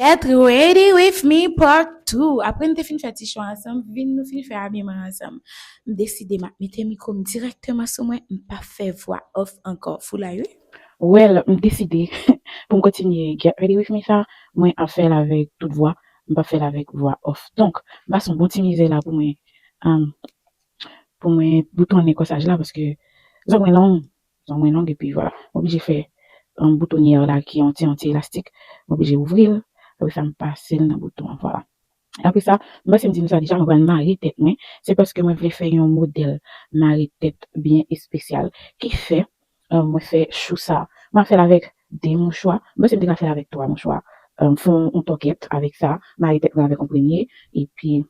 Get ready with me part 2 Apre n te fin fè ti chwa ansanm, vin nou fin fè abiman ansanm M deside m ap mete mikwo m dirèkteman sou mwen, m pa fè vwa off ankò Foulay wi! Well m deside pou m kontinye Get ready with me sa Mwen ap fè l avèk tout vwa, m pap fè l avèk vwa off Donk m pase yon bon ti mizè la pou mwen, pou mwen boutonnen kòsaj la paske zòrèy mwen long Zong mwen long epi vwa. M oblije fè boutonyèr la ki yon ti yon ti elastik. M oblije ouvri l. Apre sa m pase l nan bouton an. Vwala. Apre sa, m panse m di nou sa deja, mwen pral mare tèt mwen. Se paske mwen vle fè yon modèl mare tèt byen espesyal ki fè mwen fè chou sa. M ap fè l avèk 2 mouchwa. M panse m te ka fè l avèk 3 mouchwa. M fè yon tòkèt avèk sa. Mare tèt mwen avèk yon premye. Epi,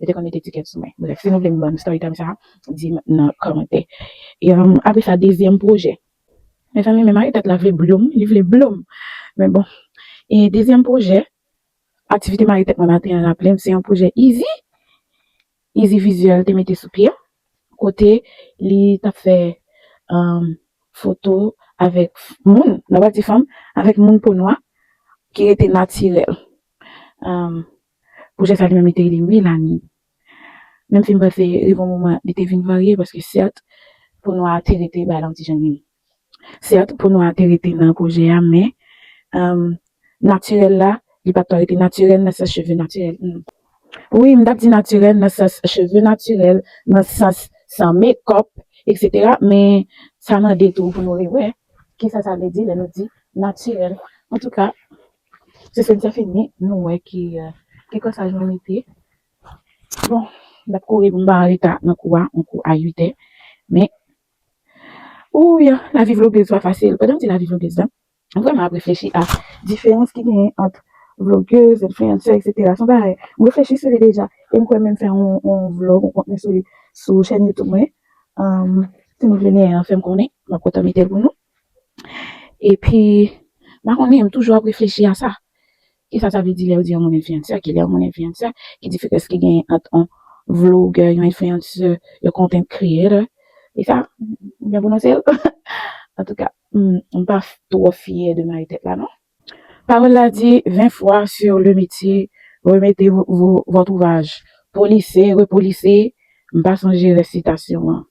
yo te konn mete ticket sou mwen. Bref, si nou vle m bann story time sa a, di m nan kòmantè. Apre sa, dezyèm pwojè. Mezanmi, men mari tèt la vle bloum, li vle bloum. Men bon. E dezyèm pwojè, aktivite mari tèt mwen maten an raple m, se yon pwojè Izi, Izi Vizyèl te mete sou pye, kote li t ap fè foto avèk moun, nan pati fanm, avèk moun po nwa ki rete natirèl. Pwojè sa li menm li te rele Melanin. Menm si m panse rive yon moman li te vin varye paske sèt po nwa a te rete bay lan ti jenn li. Sèt po nwa a te rete nan pwojè a men natirèl la li pa t ka rete natirèl nan sans cheve natirèl m. Wi m t ap di natirèl nan sans cheve natirèl, nan sans san mekòp eksetera men sa mande tou pou nou rewè kisa sa vle di lè nou di natirèl antouka Se sèn sa fini nou wè ki ki kòsaj mwen mete. Bon, map kouri pou m pa anreta nan kou a, yon kou a 8 è. Men, ouyy, lavi vloguez pa fasil. Pandan m di lavi vloguez la, m vrèman ap reflechi a diferans ki genyen ant vloguez, enfliyansè eksetera. Se yon bagay m reflechi sou li deja e m kwè menm fè yon vlog, yon kontni sou li sou chèn youtube mwen. Si nou vle neye an fè m konnen, map kontan mete l pou nou. Epi, m pa konnen, m toujou ap reflechi a sa. Ki sa sa vle di lè yo di yon moun enfliyansè? Ki lè yon moun enfliyansè? Ki diferans ki genyen ant yon vlogè, yon enfliyansè, yon content creator? E sa, m byen pwononse l? Antouka, m pa twò fyè de mare tèt la non. Pawòl la di, 20 fwa sur le metye, remete votre ouvrage, polise, repolise, m pa sonje rès sitasyon an.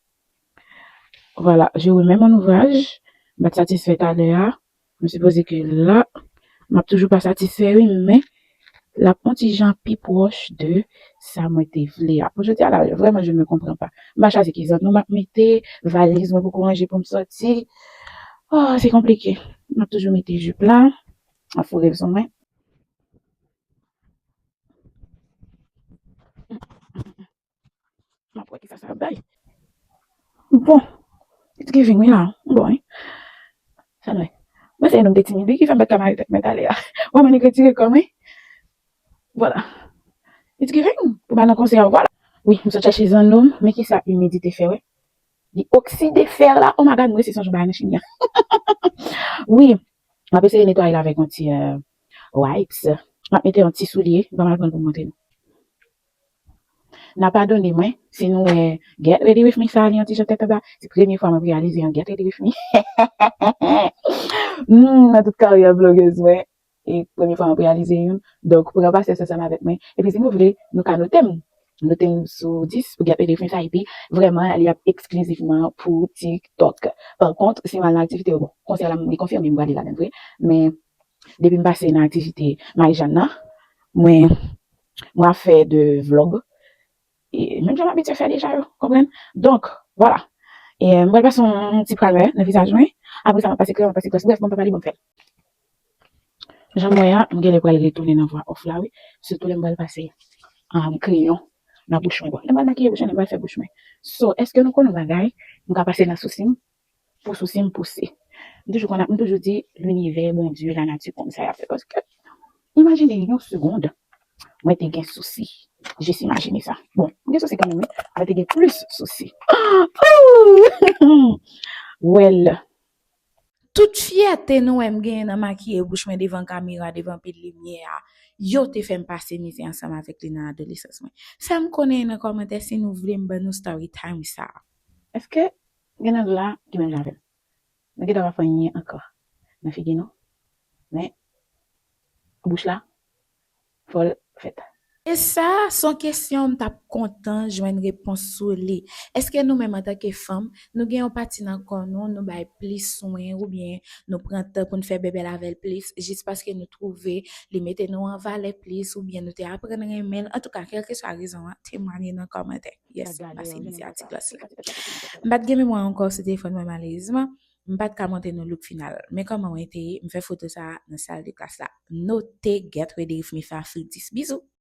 Vwala, je remets mon ouvrage, m pat satisfè talè a, m sipoze ke la m ap toujou pa satisfè wi men l ap on ti jan pi pwòch de sa mwen te vle a. Pou jodi a la, vrèman je me comprends pas. M pa chwazi ki zanno m ap mete, valiz mwen poko ranje pou m sòti. Oh, se konplike. M ap toujou mete jup la, m ap foure l sou mwen. Map wè kisa sa ap bay. Bon it's giving wi la bon wi sa dwe mwen se yon nonm de timid wi ki fèm paka ka mare tèt mwen tale a wè mwen nèg retire kòm wi vwala it's giving pou ba nan konsè a vwala wi m sot chache zanno men kisa imidite fè wè li okside fè la oh my god m resi sonje yon bagay nan chimia hahahahah wi map eseye netwaye l avèk yon ti wipes map mete yon ti soulye banm al pranl poum montre nou. N a padone mwen si nou wè Get Ready With Me sa li yon ti jan tèt anba. Se premye fwa mwen reyalize yon Get Ready With Me nan tout karyè vloguez mwen. E premye fwa m ap reyalize youn. Donk pran pasyans ansanm avèk mwen. Epi si nou vle, nou ka note m. Note m sou 10 pou Get Ready With Me sa. Epi vrèman li ap eksklizivman pou TikTok. Pa kont si m al nan aktivite yo, bon konsèy la li konfime m prale ladan l vre. Men depi m pase nan aktivite Marijàn nan, mwen. Mwen fè 2 vlog menm jan m abitye fè deja yo konprann donk vwala m pral pase yon ti pralè nan vizaj mwen apresa m ap pase kreyòl m ap pase glòs brèf bon m pa pale bon m fèl jan m wè a m genlè pral retounen nan vwa òf la wi sitou lè m pral pase kreyon nan bouch mwen bon lè m pral makiye bouch mwen lè m pral fè bouch mwen so èske nou konn yon bagay m ka pase nan sousi m Pou sousi m pouse. M toujou konn ap m toujou di linivè, Bondye, lanati konn sa y ap fè paske imajine yon segond mwen te gen sousi jis imajine sa bon m gen sousi kanmenm wi mwen te gen plis sousi ooh wèl. Tout fyète nou wè m genyen nan makiye bouch mwen devan kamera devan pil limyè a yo te fè m pase mizè ansanm avèk li nan adolesans mwen fè m konnen nan kòmantè si nou vle m ban nou storytime sa. Eske M gen lang la ki menm jan avèm. Nou gentan pa fè anyen ankò nan figi nou men bouch la fòl fèt. E sa son kesyon m tap kontan jwenn repons sou li. Eske nou menm antanke fanm nou gen yon pati nan kò nou nou bay plis swen oubyen nou pran tan poun fè bèbèl avèl plis jis paske nou twouve li mete nou an valè plis oubyen nou te aprann renmenl antouka kelkeswa rezon an temwanye nan kòmantè. Yes, m pase mizè a ti klas la. M pat gen memwa ankò sou telefòn mwen malerezman, m pat ka montre nou look final. Men kòman wen te ye, m fè foto sa a nan sal de klas la. Note Get Ready With Me Fafidis. Bizou!